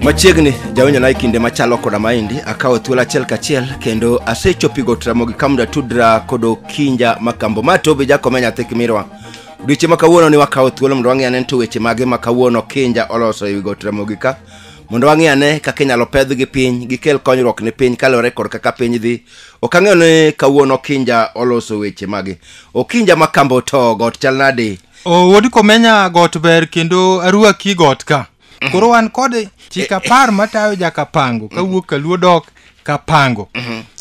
machiegni jawinjona e kinde machalo koda maendi akawo thuolo achiel kachiel kendo asechopigo tramogi kamda tudra kod okinja makambo ma tobi jakome nyathi kimirwa odiochieng' ma kawuono ni wakawo thuolo mondo wang'e ane ni to weche mage ma kawuono kinja oloso e wigo tramogi ka mondo wang'e ane kaka inyalo pedhgi piny gikel konyruok ne piny kaluwore kod kaka piny dhi ok ang'eyo ni kawuono okinja oloso weche mage okinja ma kambo to got chal nade O, wuod komenya got ber kendo aruaki got ka koro wan kod chik apar matayo jakapango kawuok kaluo dok kapango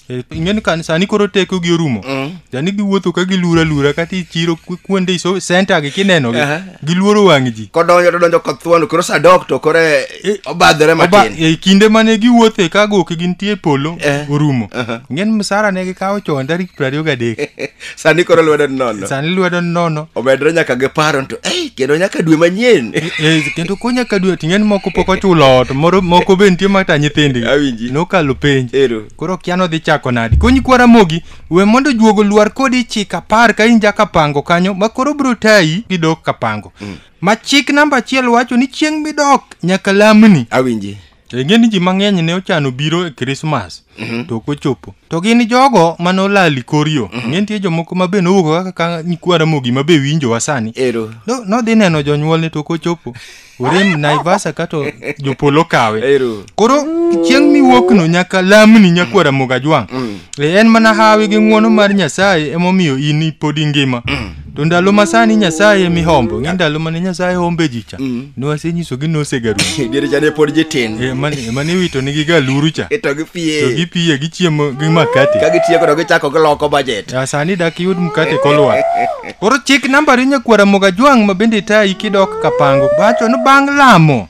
E, ing'eni kan sani koro teko gi orumo sani giwuotho ka gilura lura kata ichiro ku- kuonde iso senta gi kinenogi Aha. giluoro wang' ji kodonjo to donjo kothuon koro sadok to koro e- Eh, obadhore Oba- matin e kinde mane giwuothe ka goke gintie e polo Eh. orumo Aha. ng'en msara ne gikawo chon tarik piero ariyo gadek sani koro lwedo nono sani lwedo nono omedre nyaka gi paro to ei kendo nyaka dwe manyien Eh, kendo ko nyaka dwe to ing'en moko pok ochulo ot moro moko be nitie mata nyithindgi Awinji. nokalo penj ero koro kiano dhi chako nadi konyi kwara mogi we mondo juogo lwar kodi chik apar ka in jakapango kanyo ma koro biro tayi gidok kapango mm. ma chik namba achiel wacho ni chieng' midok nyaka lamni awinji ing'e ni ji mang'eny ne ochano biro e krismas mm -hmm. to ok ochopo to gin jogo ma nolali korio mm -hmm. ing'e nitie jomoko ma be nowuok kaka nyikwara mogi ma be winjowa sani nodhi no, neno jonyuolne to ok ochopo orem naivasa kato jopolo kawe Ero. koro chieng' miwuokno nyaka lamni nyakwa ramogi ajwang' E, en mana hawi gi ng'wono mar nyasaye emomiyo in pod ingima to ndalo masani nyasaye emihombo ng'e ndalo mane nyasaye hombe ji cha nwasenyisogi nosegaru Diere cha ne pod jitin. E, mane mane iwito nigi galuru cha Ito gi to pie. gipiye gichiemo gi makate Ka gitieko to gichako giloko budget. Ya, sani dak yud mkate kolwar Koro chik nambari nyakwar Ramogi Ajwang' ma bende tayi kidok Kapango. Bacho ni bang' lamo,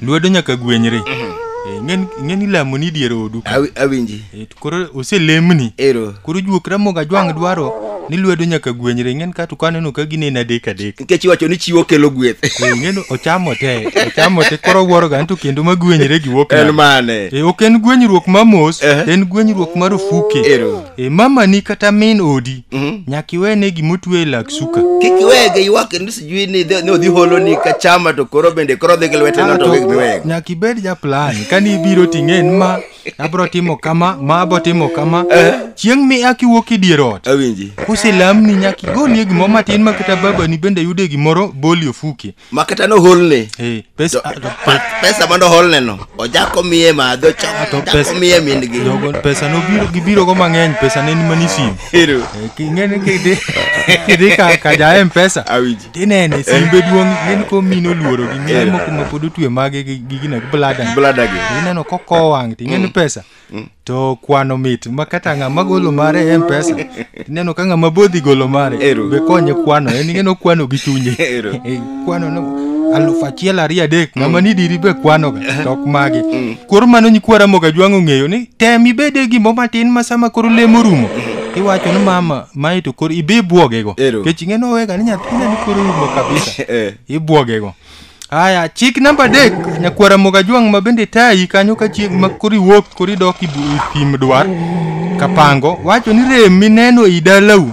lwedo nyaka gwenyre. Eh, ng'en- Ng'eni lamo ni dier odu. ka. Awi- awinji Eh, to Koro oselemni. ero Koro juok Ramogi Ajwang' dwaro ni lwedo nyaka gwenyre. Ng'en ka to kaneno ka gineno adek adek. nikech iwacho ni chiwo kelo gweth Eh, Ng'en ochamo te, ochamo te koro wuoroga ni to kendo ma gwenyre gi wuok en nade. mane Eh, ok en gwenyruok ma mos, Eh. en gwenyruok marufuke. ero e mamani kata min odi Mhm. nyaka iwene gimotwe e lak suka kik iwege ywak kendo sijui ni idhi- ni odhi holo ni ka chama to koro bende koro dhi gi lwete no to gik miwego nyaka ibed ja plan kani ibiro ting'en ma abro timo kama ma abo timo kama chieng' mi ak iwuok e dier ot awinji koselamni nyaka igolie gimoro matin ma kata babani bende yude gimoro boli ofuke ma kata noholne Eh, pesa to- ah, to pe- pesa mondo oholneno ojak omiye madho ah, to chak pesa- omiye min-gi jogo pesa nobiro gibirogo mang'eny pesa ne ni mani sim Ero. Eh, king'eni kidhi kidhi ka ka ja mpesa Awinji. tinene simbe duong' ng'eni ko mine oluoro gi mine moko ma pod otwe mage gi gi gina gi blada Blada gi. ineno kokowo wang' ting'eni pesa to kwano mit ma kata ng'ama golo mare e mpesa ineno ka ng'ama bodhi golo mare Ero. be konye kwano en ing'eno kwano gi chunye Ero. Eh, kwano no alufu achiel ariyo adek ng'ama ni diri be kwanoga to ok magi koro mano nyikwa ramoga jwang' ong'eyo ni tem ibede gimbo matin ma sama koro lemo rumo iwacho ni mama mae to koro ibe ibwogego Ero. kech ing'eno wega ni nyathina ni koro rumo kabisa Eh. ibwogego Aya, chik namba adek, nyakwara Mogajwang' ma bende tayi kanyo ka chieng' ma kori wuok kori dok i bu- i thim dwar kapango wacho ni rem mineno i dalau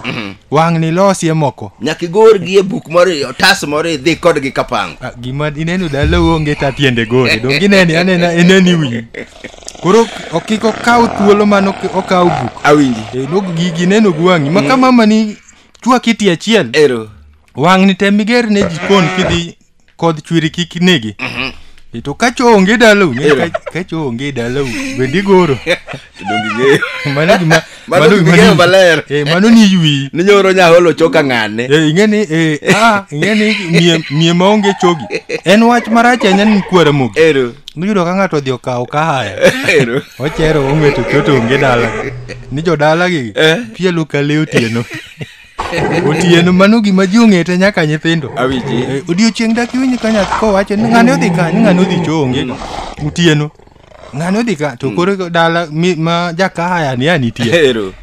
wang' ni losie moko. nyaka igorgi e buk moro e otas moro idhi kodgi kapango Ah, Gima ineno dalau onge ta tiende gore, dong ineni anena ineni wiyi. Koro ok iko kaw thuolo mano ok- okaw buk. awinji E, nog gigi neno gi wang'i. Ma ka mama ni chwaki ti achiel. ero wang'ni tem iger ne jikon kidhi kodh chwiri kik negi E to ka cho onge dalau ng'e ka- ka cho onge dalau bende igoro donge ng'eyo mano gima Mano mano gima ging'eyo ni- maler. eh, mano ni ywi ni nyoro nyaholo choka ng'ane Eh, ing'e ni eh, ah, ing'e ni mie- mie maonge chogi en wach marach ahinya ni kwara mogi ero niyudo ka ng'ato odhi okawo kahaya ero ochero ong'eto choto onge dala ni jodalagi Eh. pielo ka le otieno Otieno mano gima ji ong'ete nyaka nyithindo. Awiji. Eh, Odiochieng' dak iwinj ka nyathi kowacho ni ng'ane odhi ka ni ng'ane odhi chonge. Otieno. Ng'ane odhi ka to koro dala mi- ma jakahaya ni anitie. Ero.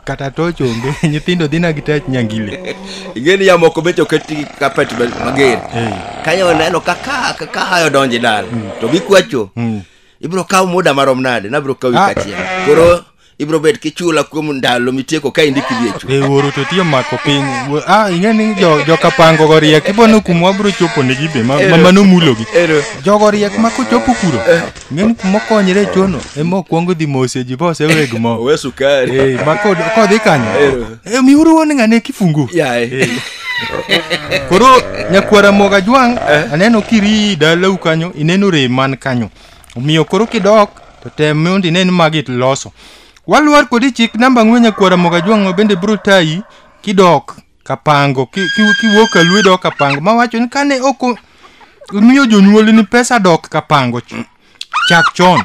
Kata to chonge nyithindo dhi na gi tach nyangile. Ingeni ya moko becho keti kapet be- mager. Eh. Kanyo oneno ka ka ka- ka hayo donje dal. To gikwacho. Mm. Ibro kawo muda marom nade? Nabro kawi Ah. kachiel. Koro ibro bet kichula kuom ndalo mitieko ka indiki viecho e wuoro to tiyo mako piny Wuo- ah ing'e ni jo- jokapango go riek ibono kuma wabro chopo negi be ma- ma- mano mulogi Ero. jogo riek ma kochopo kuro ing'e ni kuma okonyre chono ema okwongo dhi mose ji bose weg mo owe sukari Eh, ma kod- kodhi kanyo Eh, miuru wuon ng'ane kifungu yaye koro nyakwara moga jwang' aneno kiri dalau kanyo ineno rem man kanyo omiyo koro kidok to tem mondo ine ni magi iloso waluor kodi chik namba ang'wen nyakwara moga jwang'o bende biro tayi kidok kapango ki- ki- kiwuok ka lwe dok kapango mawacho ni kane ok o- omiyo jonyuoli ni pesa dok kapango ch- chak chon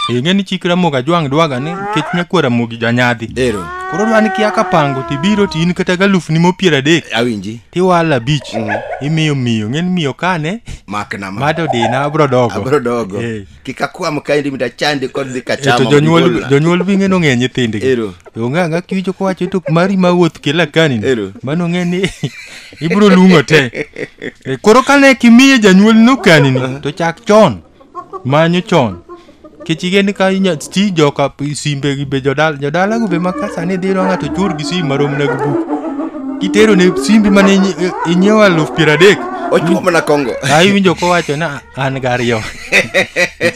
ing'e ni chik ramogi ajwang' dwaga ni nikech nyakwara mogi janyadhi ero koro dwa ni kia kapango tibiro to in kata galufni mopiero adek awinji tiwalo abich imiyo miyo ng'eni miyo kane makna ma mado dina abro dogo abro dogo Eh. kik akwam kaendi mi dachandi kod dhi Eh, kachama to mondo jonyuol igolna. jonyuol bi ng'eno ng'e nyithindgi Ero. to onge ang'a kiwicho kowacho to mari ma wuoth kila kani Ero. mano ng'e ni ibro lung'o te Eh, koro kane kimiye janyuol nokanini to chak chon Manyo chon. Kech igen ka inya ti joka p- simbe gi be jodala jodala go be ma ka sani dhi ro ng'ato chur gi sim marom na gubu. Kitero ne simbi mane inyi- inyiewo aluf piero adek. Ochuo mana kongo. Ai winjo kowacho na an gariyo.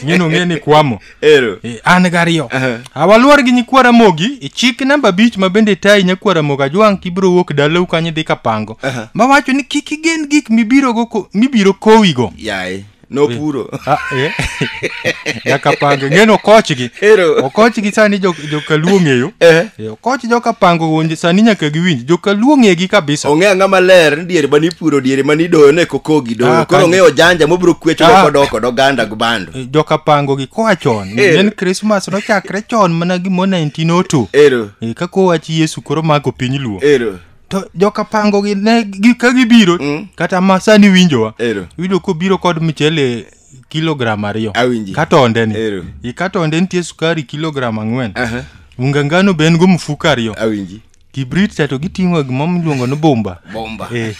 Ng'eno ng'e ni kwamo. Ero. Eh, an gariyo Aha. awaluor gi nyikwara mogi e chik namba abich ma bende tayi nyakwara mogi ajwang' kibiro wuok dalau kanyo idhi kapango Aha. mawacho ni kik igen gik mibirogo ko- mibiro kowigo Yaye. nopuro Ah, eh. nyaka pange ng'eno okochgi Ero. okochgi sani jo- jokaluo ng'eyo Eh. Eh, okoch jokapango wuonje sani nyaka giwinj jokaluo ng'egi kabisa ong'e ang'a maler ni diere mani puro diere mani doyo ne kokogi doyo Ah, koro kanyo. ong'eyo janja mobiro kwecho Ah. doko doko doganda gbando Eh, jokapango gi koa chon Eh. en krismas nochakre chon mana gimo 1902 ero Eh, ka kowach yesu koro mako piny luo ero to joka pango gi ne gi, ka gibiro Mm. kata ma sani winjowa Ero. winjo kobiro kod mchele kilogram ariyo Awinji. katonde ni Ero. i katonde nitie sukari kilogram ang'wen Aha. unga ngano be en go mfuko ariyo Awinji. kibrit cha to giting'o gima miluongo ni bomba Bomba. eh,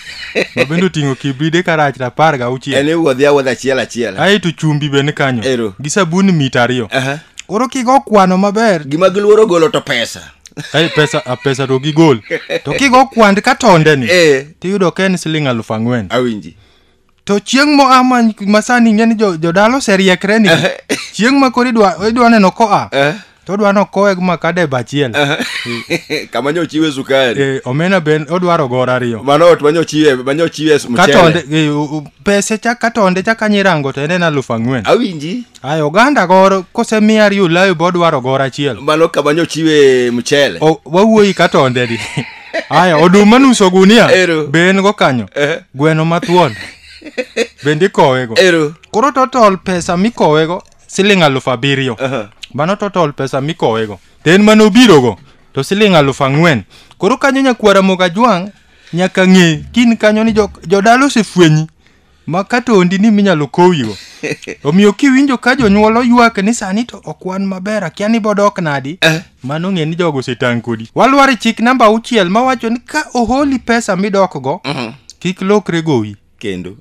ma bende oting'o kibride karach to apar ga En auchiel iwuodhi awuodha achiel achiel. aeto chumbi be ni kanyo Ero. gi sabun mita ariyo Aha. koro kigo kwano maber Gima giluoro golo to pesa. Kae pesa a pesa to gigol to kigo kwand ka tonde ni Eh. tiyudo ka en siling alufu ang'wen awinji to chieng' moa ma- masani ing'e ni jo- jodala oseriekre ni chieng' ma koro idwa idwa neno koa Eh. to odwa ni okowe gi makada e bachiel kama nyo chiwe sukari Eh, omena ben odwaro gor ariyo mano ot manyo chiwe manyo chiwe katonde mchele eh, u- u- pese chak katonde chak anyirango to en en alufu ang'wen awinji Ay, oganda goro kosemiya riyo layo bo dwaro goro achiel. Mano kama nyochiwe mchele. O, wawuoyi ka tonde di. Aya, oduma nuso gunia. Ero. Be en go kanyo. Eh. Gweno mathuon. Bende ikowego. Ero. Koro total pesa mikowego siling alufu abiriyo. Aha. Mano total pesa mikowego. To en mane obirogo to siling alufu ang'wen. Koro kanyo nyakwara moga jwang' nyaka ng'e kin kanyo ni jo- jodala osefwenyi ma kata ondini minyalo kowigo omiyo kiwinjo ka jonyuol oywak ni sani to ok wan maber akia ni bodok nadi Eh. mano ng'e ni jogo osetang' kodi walwar e chik namba auchiel mawacho ni ka oholi pesa midokgo Mhm. kik lokre gowi kendo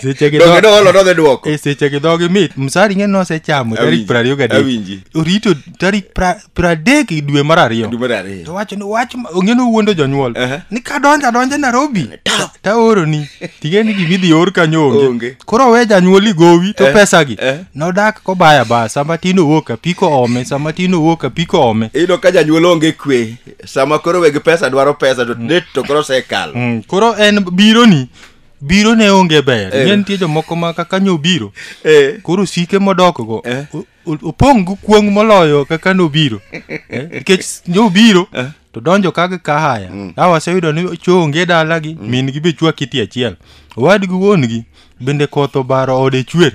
seche gi donge dho- noolo nodhi dwoko e seche gi dhogi mit msari ng'e nosechamo tarik Awinji, prariyo gadek awinji. orito tarik pra- piero adek e dwe mar ariyo Dwe mar ariyo. to wacho ni wach ma- ong'eni owuondo jonyuol Aha. ni kadonjo adonjo nairobi Ta- taoroni ting'e ni gima idhi or kanyo Onge. onge koro we janyuol igowi to Eh, pesagi eh. nodak kobaya baya sama tin owuok apiko ome sama tin owuok apiko ome iyudo ka janyuol onge kwe sama koro weg pesa dwaro pesa to det to koro osekalo Mm, koro en bironi biro ne onge ber Eh. ng'e nitie jomoko ma kaka nyo biro Eh. koro sike modokgo Eh. o- o- opong' gi kuong' moloyo kaka nobiro Eh, nikech nobiro to donjo ka gi kahaya ka waseyudo ni chonge dalagi min gi be chwa kiti achiel owadgi wuon-gi bende koth obaro ode chwer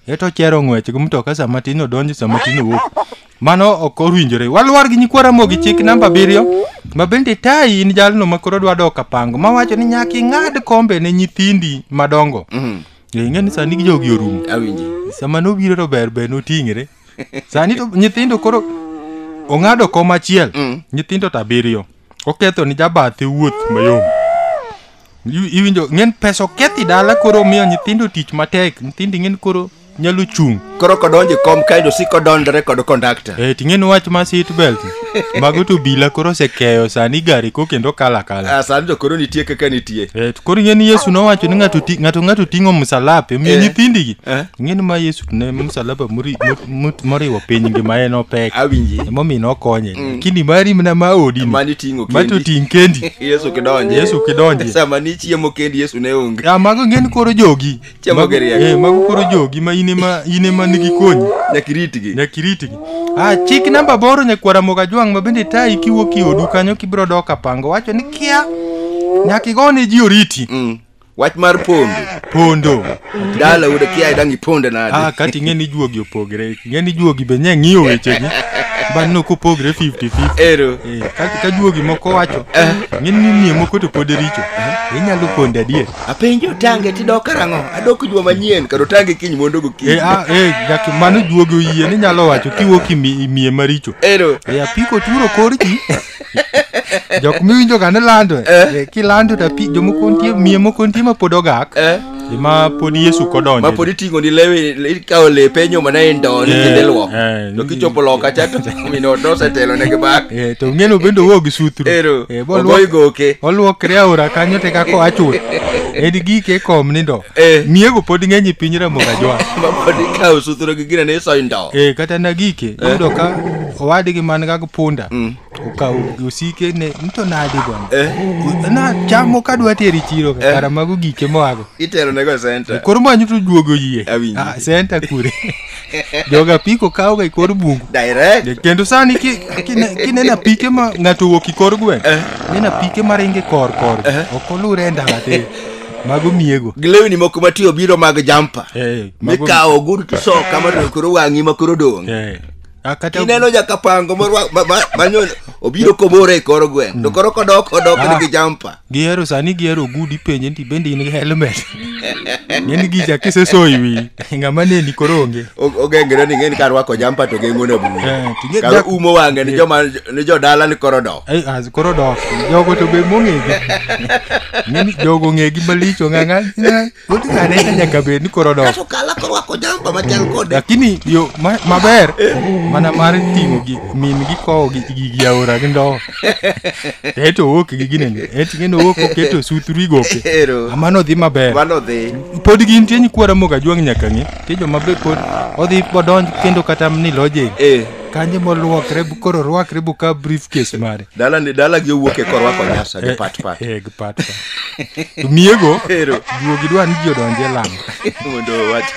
eto chero ng'wech gi mtoka sama tin odonjo sama tin owuok mano ok owinjore waluwar gi nyikwa ramogi chik namba abiriyo ma bende tayi in jalno ma koro dwa dok apango mawacho ni nyaka ing'ad kombe ne nyithindi madongo Eh, ing'e ni sani jogi orumo awinji sama nobiro to ber ber noting're sani to nyithindo koro ong'ado kom achiel Mm. nyithindo to abiriyo oketho ni jabathe wuoth mayom Iwi- iwinjo ng'en pesa okethi dala koro omiyo nyithindo tich matek nyithindo ing'en koro nyalo chung' koro kodonje kom kae to siko dondore kod kondakta Eh, ting'en wach ma seat belt mago to bila koro osekeyo sani gari ko kendo kala kala Ah, sani to koro nitie kaka nitie Eh, to koro ing'eni yesu nowacho ni ng'ato ti- ng'ato ng'ato ting'o msalape omiyo Eh. nyithindigi Eh. ing'eni ma yesu to ne msalaba muri- mu- mu- moriwo piny ngima en opek awinji emomiyo nokonye lakini mari mna ma odi mani ting'o ma to kendi ting' kendi yesu kidonje Yesu kidonje. sama nichiemo kendi yesu ne onge Ah, mago ing'eni koro jogi Chama Mago- geriek. eh, mago koro jogi ma in ema in ema nigi konyi Nyaka iritgi. nyaka iritgi ah chik namba boro nyakwara moga jwang' ma bende tayi kiwuok e odu kanyo kibiro dok apango wacho ni kia nyaka igone ji oriti Mm. Wach mar pondo. pondo Dala ude kia idang iponde ah nade. kati ing'e ni juogi opogre ing'e ni juogi be nye ng'iyo wechegi bang' no kopogre 50 50 Ero. Eh, ka, ka juogi moko wacho ng'e ni nie moko to pod richo inyalo ponde adier apenji otange tidok karang'o adok juma manyien kar otange kiny mondo gokinyi Eh, ah, eh, jaki mano juogi oyie ni nyalo wacho kiwuok imi- imiye maricho ero e apiko turo kor ji jok miwinjo ga ni lando e kilando to api jomoko nitie miye moko nitie ma pod ogak Eh. e ma pod yesu kodonjo ma pod iting'o ni lewe ikawo lepe nyoma na e ndoo ni kendo iluoko to kichopo loka cha to mino nosetelo ne gibak Eh, to ng'eno bende owuok gi sutru ero Eh, bo ogoyi luok- goke oluokre aora kanyo te kako achul en gike kom nindo Eh. miego pod ng'eny e piny ramoga jwa mapod ikawo sutro gi gina ne isoyo ndo e kata na gike yudo ka owadgi man ga punda Mm. Uka usike ne nto nadi bwana. Eh. U- Na chamo kadwa teri chiro ka kara mago gike moago. Itero nego center. Koro manyo to duogo yie. Awinji. Ah, senta kure. Joga piko kawo ga ikor bungu. Direct. Kendo sani ki- kine- kineno apike ma ng'ato owuok ikor gweng', neno apike ma ringe kor kor, ok olure e ndara te. Mago miego. Gi lewni moko matiyo biro mag jampa. Eh, mago- Mikawo ogudu tisoka ma to koro wang'i ma koro dong'. Eh, Ah, kata ineno jakapango morwa- ma- ma- manyo obiro komoro e kor gweng to koro kodok odok Ah. nigi jampa gihero sani gihero ogudu ipenje nti bende in gi helmet ng'eni gicha kisesoyi wi ng'ama neni koro onge O- ogengre ni ng'eni ka rwako jampa to geng'one Eh, bugo to ge- kar dak- umo wang'e ni joma ni jodala ni koro dok Ai, as koro dok jogo to be mong'egi ng'eni jogo ng'egi malich ong'ang'a Wuod Kaneta nyaka bed ni koro dok. Kaso kala korwako jampa machal kode. Lakini yo ma- maber mana mar ting'o gi min gi kowo gi gi gi aora gi ndowo. To eto owuok gi gine ni. Et ng'eno owuok oketo sutru igoke. Ero. Amano dhi maber. Mano dhi. Pod gin tie nyikwara moga juang' nyaka ng'e. Tie joma be pod odhi bodonj kendo kata ni loje. Eh. Kanye moluokre bu- koro rwakre bu ka briefcase mare. dala ni dala gi owuok e korwa konyasa gi pat pat Eh, gi pat pat. To miego Ero. duogi dwa ni ji odonje lamo mondo owach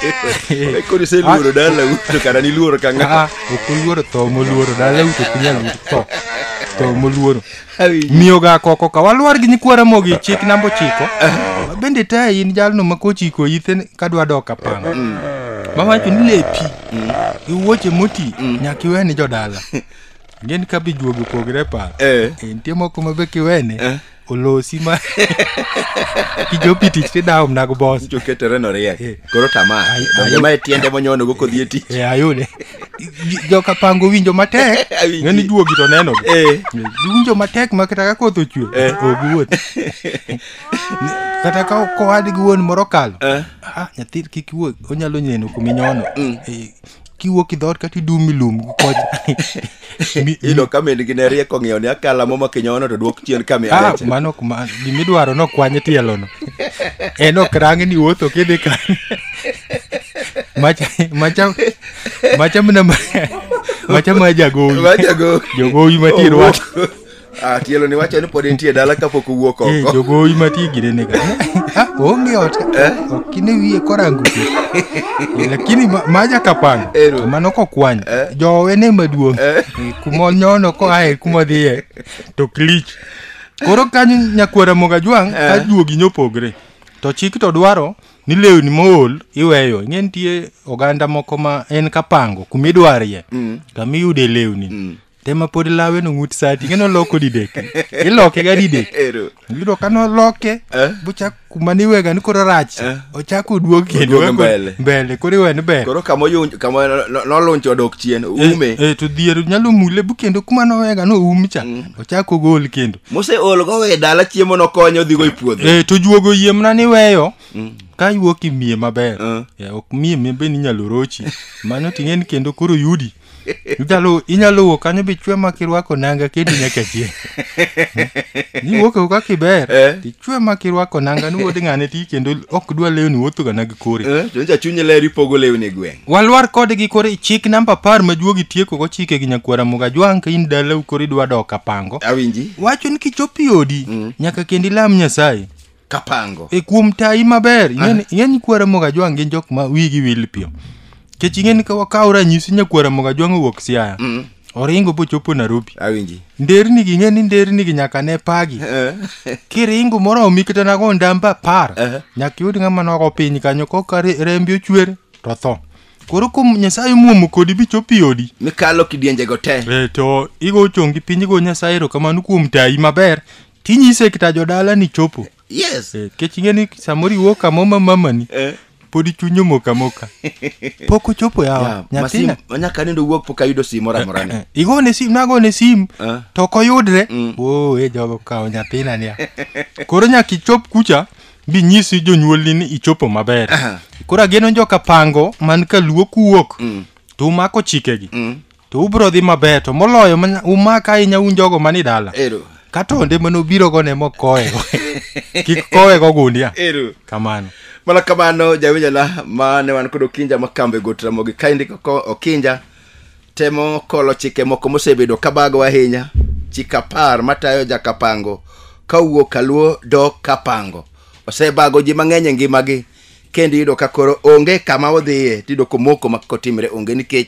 koro iseluoro dala uto kara niluoro ka ng'a Ah, ok oluoro tho moluoro dala uto ok inyal yudo tho tho moluoro miyoga koko ka waluor gi nyikwa ramogi chik namba ochiko bende ta in jalno ma kochiko ithe ka dwa dok apanga mawacho ni lepi gi wuoche moti nyaka iwe ni jodala Ng'eni ka be juogi opogre paro. Eh. Eh, Nitie moko ma be kiwene. Eh. Olosi ma. Kijopi tich tidawo mna go boss. Joketere no riek. Eh. Koro tamaa. Ai- Donge ai- mae tiende monyono go kodhi e tich. Eh, ayude. Joka pango winjo matek. Awinji. Ng'eni juogi to neno. gi. Eh. Giwinjo matek ma kata ka koth ochwe. Eh. Ok wuoth. Kata ka kowadgi wuon moro kalo. Eh. Ah, nyathi kik wuoth. Onyalo neno kuminyono. Eh, kiwuok idhoot kata idum ilum gi kocha Mi- ilo ka min gi ne rieko ng'iyo ni akala moma kinyono to dwok chien ka mi Ah, areche mano ok ma- gimidwaro nokwanye tielono en ok rangi ni wuotho kidhi ka macha macha macha mna macha ma jagowi Majago. jogowi matir wach Ah, tielo ni wacho ni pod entie e dala kapok owuok Eh, oko jogowi mati girene ka Ah, onge ot ok ine wiye korango pi. Eh, lakini ma- maja kapanga Ero. mano kokwany Eh. jowe ne maduong' Eh, kuma onyono koae kuma odhiye to klich koro kanyo nyakwara moga jwang' Eh. ka juogi nyopogre to chik to dwaro ni lewni mool iweyo ing'e nitie oganda moko ma en kapango kumidwarie Mm. kamiyude lewni Mm. te ma pod lawe no ng'ut sati ing'e noloko didek iloke ga didek Ero. yudo ka noloke Eh. bochak kuma niwega ni koro rach Eh. ochak oduog kendo Oduog ka- mbele. mbele koro iwe ni ber Koro kama oyun- kama no- no- nolunch odok chien ume. Eh, eh, to dhier nyalo mule bu kendo kuma nowega no um cha ochak ogol kendo Mose ol go we dala chiemo nokonyo odhi go e puodho. Eh, to juogo yiemna ni weyo ka iwuok imiye maber Eh. Eh, ok miye mbe ni nyalo rochi mano ting'e ni kendo koro yudi Inyalo inyalo wuok kanyo bichwe ma kirwako nanga kendo nyaka chie. Ni wuok e kaka iber. Eh. Tichwe ma kirwako nanga ni wuod ng'ane ti kendo ok dwa lewni wuotho ga nag kore. Eh, to nyocha chunye ler ipogo lewni e gweng'. Walwar kode gi kore chik namba apar ma juogi tieko go chike gi nyakwara muga jwang' ka in dalau kore idwa dok apango. Awinji. Wacho ni kichopo i odi nyaka kendo ilam Nyasaye. kapango e kuom tayi maber ing'e ni- ing'e ni kwara mogajwang' gin jok ma wigi wil piyo kech ing'e ni ka wakawo ranyisi nyakwara mogajwang' owuok siaya oringo bochopo nairobi awinji nderni gi ing'e ni nderni gi nyaka ne pagi kiringo moromi kata nago ndamba apar Eh. nyaka iyud ng'ama nogo piny kanyo koka re- rembi ochwer to tho koro kuom nyasaye muomo kodi bichop i odi mikalo kidienjego te e, to igo chongi piny igo nyasaye erokamano kuom tayi maber tinyise kita jodala ni chopo yes Eh, kech ing'e ni samoro iwuok kamo ma mamani Eh. pod ichunyo moka moka pok ochopo Yeah, yawa masim- nyathina nyaka nindo wuok pok ayudo sim moro amora ni Eh, igone sim nagone sim Eh. to ok oyudre Mm. oo e jogo kawo nyathina niya koro nyaka ichop kucha bi nyisi jonyuolni ni ichopo maber Aha. koro ageno joka pango man ka luo kuwuok Mm. to umako chikegi Mm. to ubiro dhi maber to moloyo manya- umak ahinya un jogo mani dala Ero. kata onde mane obirogo ne mokowego kik kowego ogundia Ero. kamano mana kamano jawinjana ma ne wan kod okinja ma kambe got ramogi ka indiko ko okinja temo kolo chike moko mosebedo kabago ahinya chik apar matayo jakapango ka wuok kaluo dok kapango osebago ji mang'eny e ngimagi kendo iyudo ka koro onge kama odhiye tiyudo komoko ma kotimre onge nikech